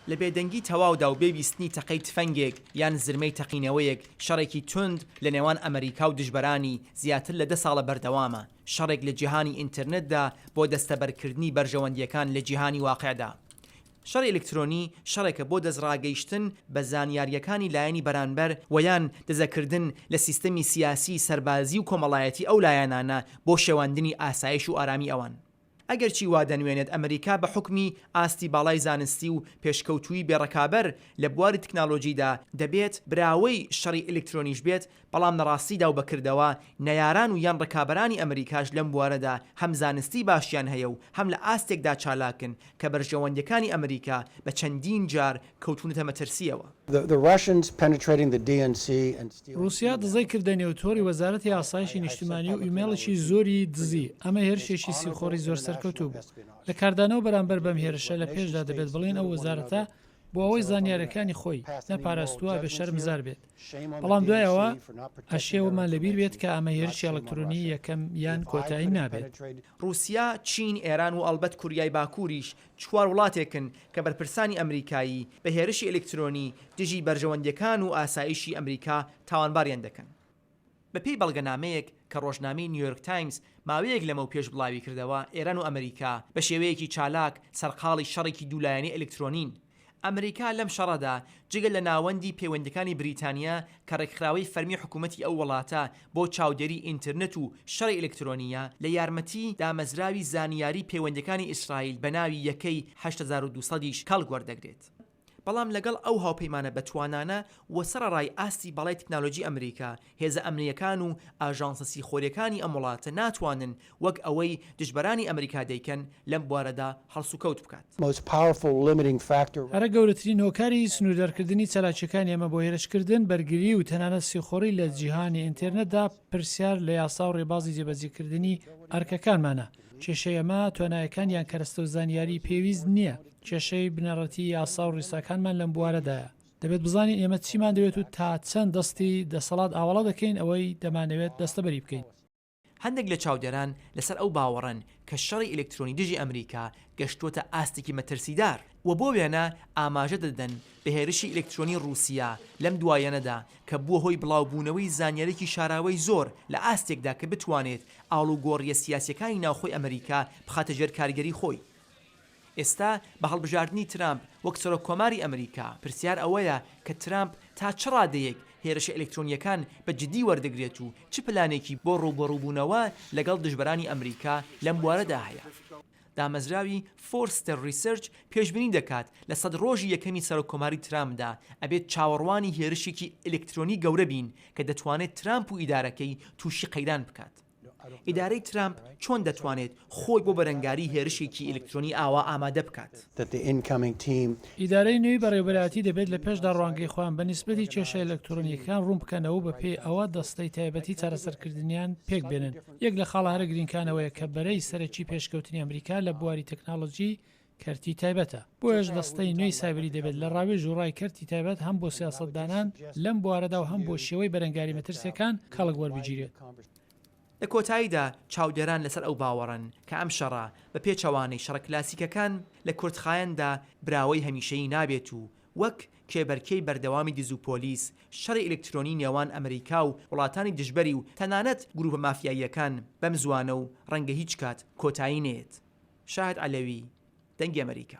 لە بێدەنگی تەواودا و بێ بیستنی تەقەی تفەنگێک یان زرمەی تەقینەوەیەک، شەڕێکی توند لە نێوان ئەمەریکا و دژبەرانی، زیاتر لە دە ساڵە بەردەوامە، شەڕێک لە جیهانی ئینترنتدا بۆ دەستەبەرکردنی بەرژەوەندییەکان لە جیهانی واقعدا. شەڕی ئەلکترۆنی، شەڕێکە بۆ دەستڕاگەیشتن بە زانیارییەکانی لایەنی بەرانبەر و یان دزەکردن لە سیستەمی سیاسی، سەربازی و کۆمەڵایەتی ئەو لایەنانە بۆ شێواندنی ئاسایش و ئارامی ئەوان. ئەگەرچی وا دەنوێنێت ئەمریکا بە حوکمی ئاستی باڵای زانستی و پێشکەوتووی بێ ڕکابەر لە بواری تکنالۆجیدا دەبێت براوەی شەڕی ئەلکترۆنیش بێت، بەڵام لە ڕاستیدا و بە کردەوە نەیاران و یان ڕکابەرانی ئەمریکاش لەم بوارەدا هەم زانستی باشیان هەیە و هەم لە ئاستێکدا چالاکن کە بەرژەوەندیەکانی ئەمریکا بە چەندین جار کەوتونەتە مەترسیەوە. ڕوسیا دزەی کردە نێو تۆڕی وەزارەتی ئاسایشی نیشتمانی و ئیمەیڵێکی زۆری دزی، ئەمە هێرشێکی سیخۆڕی زۆر سەرکەوتوو بوو. لە کاردانەوە بەرامبەر بەم هێرشە لە پێشدا دەبێت بڵێن ئەو وەزارەتە بۆ ئەوەی زانیارەکانی خۆی نەپاراستووە ئەبێت شەرمزار بێت بەڵام دوای ئەوە ئەشێ وەمان لەبیر بێت کە ئەمە هێرشی ئەڵکترۆنی یەکەم یان کۆتایی نابێت. ڕوسیا، چین، ئێران و ئەڵبەت کوریای باکوریش چوار وڵاتێکن کە بەرپرسانی ئەمریکایی بە هێرشی ئەلیکترۆنی دژی بەرژەوەندییەکان و ئاسایشی ئەمریکا تاوانباریان دەکەن. بەپێی بەڵگەنامەیەک کە ڕۆژنامەی نیویۆرک تایمز ماوەیەک لەمەوپێش بڵاویکردەوە، ئێران و ئەمریکا بە شێوەیەکی چالاک سەرقاڵی شەڕێکی دوولایەنەی ئەلیکترۆنین ئەمریکا لەم شەڕەدا جگە لە ناوەندی پەیوەندیەکانی بریتانیا کە ڕێکخراوەی فەرمی حکومەتی ئەو وڵاتە بۆ چاودێری ئینترنت و شەڕی ئەلکترۆنییە لە یارمەتی دامەزراوی زانیاری پەیوەندیەکانی ئیسرائیل بە ناوی یەکەی هەشت هەزار و دوو سەد یش کەڵک وەردەگرێت بەڵام لەگەڵ ئەو هاوپەیمانە بەتوانانە و سەڕەڕای ئاستی باڵای تکنالۆجی ئەمریکا هێزە ئەمنییەکان و ئاژانسە سیخۆرییەکانی ئەم وڵاتە ناتوانن وەک ئەوەی دژبەرانی ئەمریکا دەیکەن لەم بوارەدا هەڵسوکەوت بکات. هەرە گەورەترین هۆکاری سنووردارکردنی چالاکییەکانی ئێمە بۆ هێرشکردن، بەرگری و تەنانەت سیخۆڕی لە جیهانی ئینتێرنێتدا پرسیار لە یاسا و ڕێبازی جێبەجێکردنی ئەرکەکانمانە. کێشەی ئەمە توانایەکان یان کەرەستە و زانیاریی پێویست نییە، کێشەی بنەڕەتیی یاسا و ڕیساکانمان لەم بوارەدایە. دەبێت بزانین ئێمە چیمان دەوێت و تا چەند دەستی دەسەڵات ئاوەڵا دەکەین ئەوەی دەمانەوێت دەستەبەری بکەین. هەندێک لە چاودێران لەسەر ئەو باوەڕەن کە شەڕی ئەلکترۆنی دژی ئەمریکا گەشتووەتە ئاستێکی مەترسیدار و بۆ وێنە ئاماژە دەدەن بە هێرشی ئەلکترۆنی ڕووسیا لەم دواییانەدا کە بووە هۆی بڵاوبوونەوەی زانیاریی شاراوەی زۆر لە ئاستێکدا کە بتوانێت ئاڵوگۆڕییە سیاسییەکانی ناوخۆی ئەمریکا بخاتە ژێر کاریگەری خۆی. ئێستا بە هەڵبژاردنی ترامپ وەک سەرۆک کۆماری ئەمریکا، پرسیار ئەوەیە کە ترامپ تا چ ڕادەیەک هێرشە ئەلکترۆنییەکان بە جدی وەردەگرێت و چ پلانێکی بۆ ڕووبەڕووبوونەوە لەگەڵ دژبەرانی ئەمریکا لەم بوارەدا هەیە. دامەزراوی فۆرستەر ڕیسرچ پێشبینی دەکات لە سەد ڕۆژی یەکەمی سەرۆک کۆماری ترامپدا ئەبێت چاوەڕوانی هێرشێکی ئەلکترۆنی گەورە بین کە دەتوانێت ترامپ و ئیدارەکەی تووشی قەیران بکات. ئیدارەی ترامپ چۆن دەتوانێت خۆی بۆ بەرەنگاری هێرشێکی ئەلکترۆنی ئاوا ئامادە بکات؟ ئیدارەی نوێی بەڕێوەبەرایەتی دەبێت لە پێشدا ڕوانگەی خۆیان بە نیسبەتی کێشە ئەلکترۆنییەکان ڕوون بکەنەوە و بەپێی ئەوە دەستەی تایبەتی چارەسەرکردنیان پێک بێنن. یەک لە خاڵە هەرە گرینگکانەوەیە کە بەرەی سەرەکی پێشکەوتنی ئەمریکا لە بواری تەکنەلۆجی کەرتی تایبەتە. بۆیەش دەستەی نوێی سایبری دەبێت لە ڕاوێژ و ڕای کەرتی تایبەت هەم بۆ سیاسەتدانان لەم بوارەدا و هەم بۆ شێوەی بەرەنگاری مەترسییەکان کەڵک وەربگیرێت. لە کۆتاییدا چاودێران لەسەر ئەو باوەڕەن کە ئەم شەڕە، بە پێچەوانەی شەڕە کلاسیکەکان، لە کورتخایەندا براوەی هەمیشەیی نابێت و وەک کێبەرکێی بەردەوامی دز و پۆلیس، شەڕی ئەلکترۆنی نێوان ئەمریکا و وڵاتانی دژبەری و تەنانەت گروپە مافیاییەکان بەم زوانە و ڕەنگە هیچ کات کۆتایی نەیەت. شاهد عەلەوی، دەنگی ئەمەریکا.